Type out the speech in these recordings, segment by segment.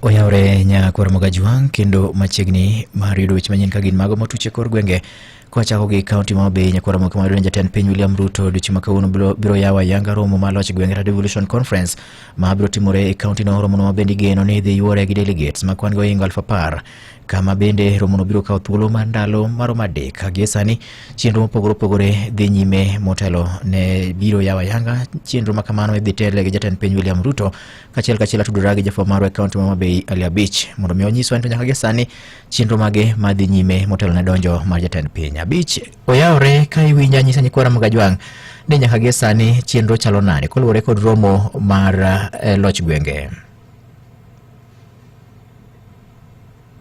oyawre nyakwar mogaji wang' kendo machiegni mar yudo weche manyien ka gin mago motuche kor gwenge kwachako gi kaunti ma Homabay nyakwar moke mar jatend piny William Ruto odiochieng' ma kawuono biro- biro yawo ayanga romo mar loch gwenge Red Devolution Conference ma biro timore e kaunti no romono ma bende igeno ni idhi yuore gi delegates ma kwan-gi ohingo aluf apar kama bende romono biro kawo thuolo mar ndalo maromo adek ka gie sani chenro mopogore opogore dhi nyime motelo ne biro yawo ayanga chenro ma kamano idhi tele gi jatend piny William Ruto kachiel kachiel atudora gi jafwamb marwa e kaonti ma Homabay Ali Abich mondo mi onyiswa ni to nyaka gi sani chenro mage madhi nyime motelo ne donjo mar jatend piny. Abich oyawore ka iwinja nyisa nyikwara mag Ajwang' ni nyaka gi sani chenro chalo nade koluwore kod romo mar eh, loch gwenge.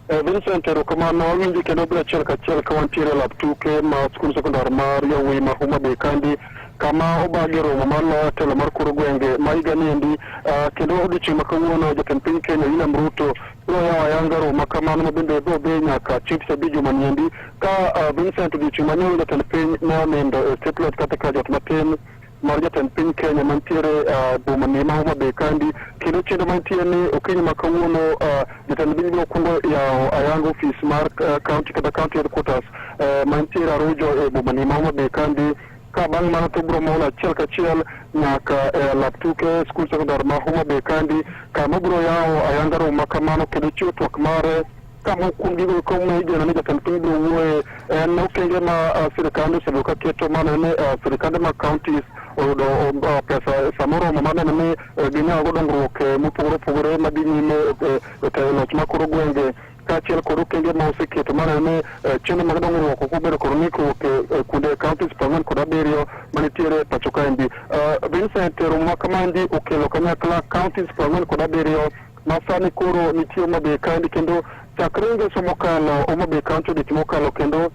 Eh, Vincent erokamano awinji kendo be achiel kachiel ka wantiere e lab tuke ma skul sekondar mar yawuoyi ma Homa Bay kandi kama obagi romo mar loyo telo mar koro gwenge ma higa niendi ah, kendo odiochieng' ma kawuono jatend piny Kenya William Ruto biro yawo ayanga romo ma kamano ma bende biro dhi nyaka chieng' tich abich juma niendi ka ah, Vincent odiochieng' manyo jatend piny ne onindo e state lodge kata ka jot matin mar jatend piny Kenya mantiere uh, boma ni ma Homa Bay kandi kendo chenro mantie ni okinyi ma kawuono uh, jatend piny biro kwongo yawo ayanga ofis mar uh, county kata county headquarters uh, mantiere Arujo e boma ni ma Homa Bay kandi ka bang' mano to biro mol achiel kachiel nyaka e eh, lap tuke skul sekondar ma Homa Bay kandi kama biro yawo ayanga romo ma kamano kendo chiwo twak mare ka moko kuom gigo eko ma igeno ni jatend piny biro wuoye en okenge ma ah, sirkand osebedo ka keto mano ni ah, sirkande ma counties oyudo um, ah, pesa sama oromo ma neno ni eh, ginyago dongruok eh, mopogore opogore madhi nyime eh, e tayo loch ma koro gwenge kaachiel kod okenge ma oseketo maneno ni eh, chenro mag dongruok ok obedo kod ng'ikruok e e kuonde counties prang'wen kod abiriyo manitiere e pacho kaendi Ah, Vincent romo ma kamaendi okelo kanyakla counties prang'wen kod abiriyo Masani koro nitie Homa Bay County kendo chakre ngeso mokalo Homa Bay County odich mokalo kendo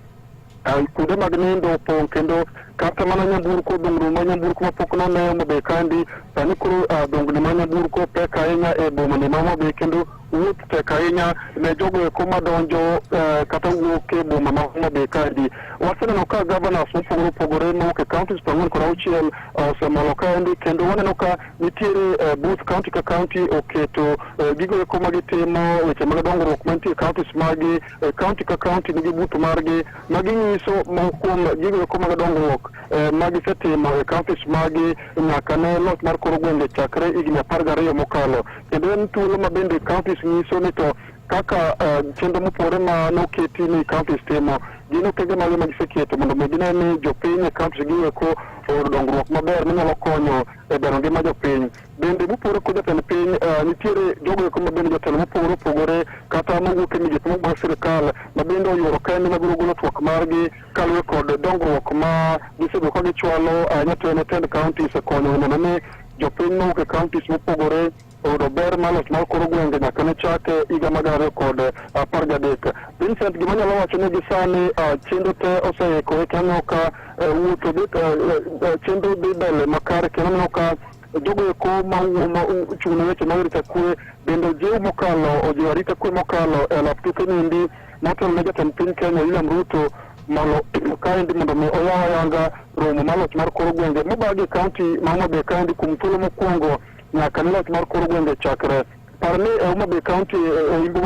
ah, kuonde mag nindo opong' kendo kata mana nyamburko dongruok ma nyamburko mapok none Homa Bay County sani koro ah, dongni ma nyamburko pek ahinya e bomani ma Homa Bay kendo wuoth tek ahinya ne jogo eko madonjo eh, kata wuok e boma ma Homa Bay County. Waseneno ka governors mopogore opogore mowuok e counties piero ang'wen kod auchiel osemolo kaendi kendo waneno ka nitiere uh, booth county ka county oketo uh, gigo eko ma gitimo weche mag dongruok mantie counties magi uh, county ka county nigi booth margi ma ginyiso ma kuom gigo eko mag dongruok uh, ma gisetimo e counties magi nyaka ne loch mar koro gwenge chakre higni apar gariyo mokalo kendo en thuolo ma bende counties nyiso ni to kaka uh, chenro mopore ma noketi ni counties timo gin okenge mage ma giseketo mondo mi gine ni jopiny e counties gi eko oyudo dongruok maber manyalo konyo e bero ngima jopiny. Bende mopogore kod jatend piny, eh, nitiere jogo eko ma bende jotelo mopogore opogore kata mawuok e migepe mopogore sirikal ma bende oyuoro kende mabiro golo twak margi kaluwore kod dongruok ma gisebedo ka gichwalo eh, nyatene tend counties e konyo neno ni jopiny mawuok e counties mopogore oyudo ber mar loch mar koro gwenge nyaka ne chake higa mag ariyo kod eh, apar gadek. Vincent, gima nyalo wacho ni gisani ah, chenro te oseikore kendo aneno ka eh, wuotho dhi eh, eh, eh, chenro dhi mbele makare kendo aneno ka jogo eko ma wuo- ma u- chung' ne weche mag arita kwe bende jiw mokalo ojiwo arita kwe mokalo e lap tuke niendi motelo ne jatend piny Kenya William Ruto malo kaendi mondo mi oyaw ayanga romo mar loch mar koro gwenge mobagi kaunti ma Homa Bay kaendi kuom thuolo mokwongo nyaka ne loch mar kor gwenge chakre. Par ni e Homa Bay County e imbo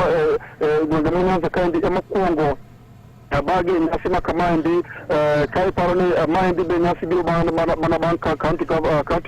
e gwenge ma Nyanza kaendi ema kwongo abagi nyasi ma kamaendi ka iparo ni maendi be nyasi biro mana bang' ka kaunti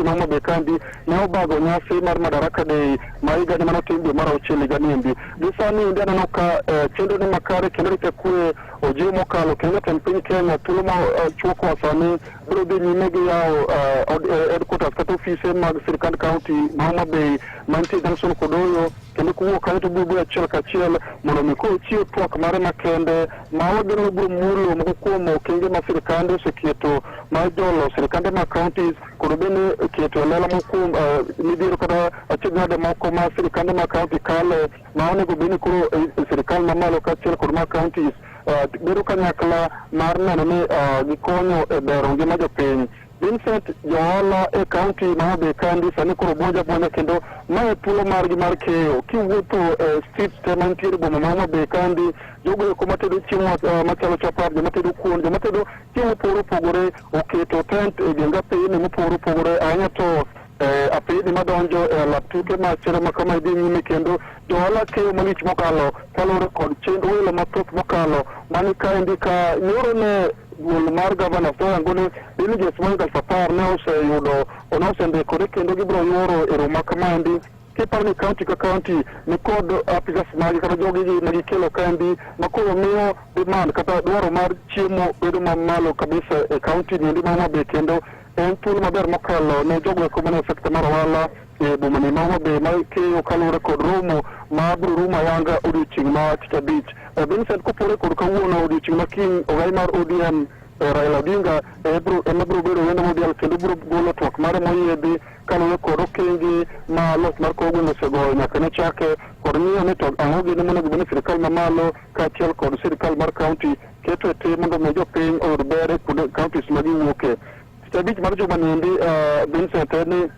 ma Homa Bay kaendi ne obago nyasi mar Madaraka Day ma higani mane otim dwe mar auchiel higani endi. Gi sani endi aneno ka chenro ni makare kendo rito kwe ojiw mokalo kendo jatend piny Kenya thuolo ma chuokwa sani Biro dhi nyime gi yawo eh, od- eh, headquarters kata ofise mag sirkand kaunti ma Homa Bay mantie Junction kod Oyo kendo kowuok kanyo to biro biro achiel kachiel mondo mi koro chiw twak mare makende ma wageno ni biro mulo moko kuom okenge ma sirkande oseketo mar jolo sirkande ma counties kod bende keto e lela moko kuom eh, midhiero kata achiedhnade moko ma sirkande ma county kale ma onego bed ni koro eh, sirikal mamalo kaachiel kod ma counties eh, bedo kanyakla mar neno ni eh, gikonyo e bero ngima jopiny Vincent Johola e kaunti ma Homa Bay kandi sani koro buonja buonja kendo ma e thuolo margi mar keyo kiwuotho e street te mantiere boma ma Homa Bay kandi jogo eko matedo chiemo eh, machalo chapat joma tedo kuon joma tedo chiemo mopogore opogore oketo tent e genga peyni mopogore opogore ahinya to Eh, apeyni madonjo e alap tuke ma chero ma kama idhi nyime kendo johala keyo malich mokalo kaluwore kod chenro welo mathoth mokalo mani kaendi ka nyoro ne duol mar gavana soyango ni delegates moingo aluf apar ne oseyudo ne osendikore kendo gibiro yoro e romo ma kamaendi kiparo ni kaunti ka kaunti ni kod apisas magi kata jogi gi ma gikelo kaendi ma koro miyo demand kata dwaro mar chiemo bedo mamalo kabisa e kaunti niendi ma Homa Bay kendo En thuolo maber mokalo ne jogo eko mane sekta mar ohala e bomani ma Homa Bay ma keyo kaluwore kod romo ma biro rumo ayanga odiochieng' ma tich abich. E, Vincent kopore kod kawuono odiochieng' ma kiny ogai mar ODM e, Raila Odinga e, biro- ema biro bedo wendo modial kendo biro golo twak mare moyiedhi kaluwore kod okenge ma loch mar kor gweng' osegoyo nyaka ne chake kod ng'iyo ni to ang'o gini monego bed ni sirikal mamalo kaachiel kod sirikal mar kaunti keto e tim mondo omi jopiny oyud ber e kuonde counties ma giwuoke. Tich abich mar juma niendi ah, Vincent en ni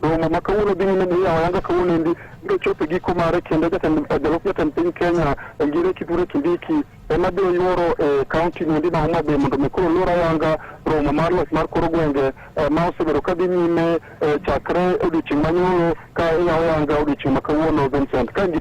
romo ma kawuono dhi nyime ni yawa yanga kawuono endi biro chopo e giko mare kendo jatend eh, jalup jatend piny Kenya eh, Ngire Kithure Kindiki ema biro yuoro e kaunti niendi ma Homa Bay mondo omi koro lor ayanga romo mar loch mar kor gwenge eh, ma osebedo ka dhi nyime eh, chakre odiochieng' manyoro ka iyawo yanga odiochieng' ma kawuono Vincent ka in gi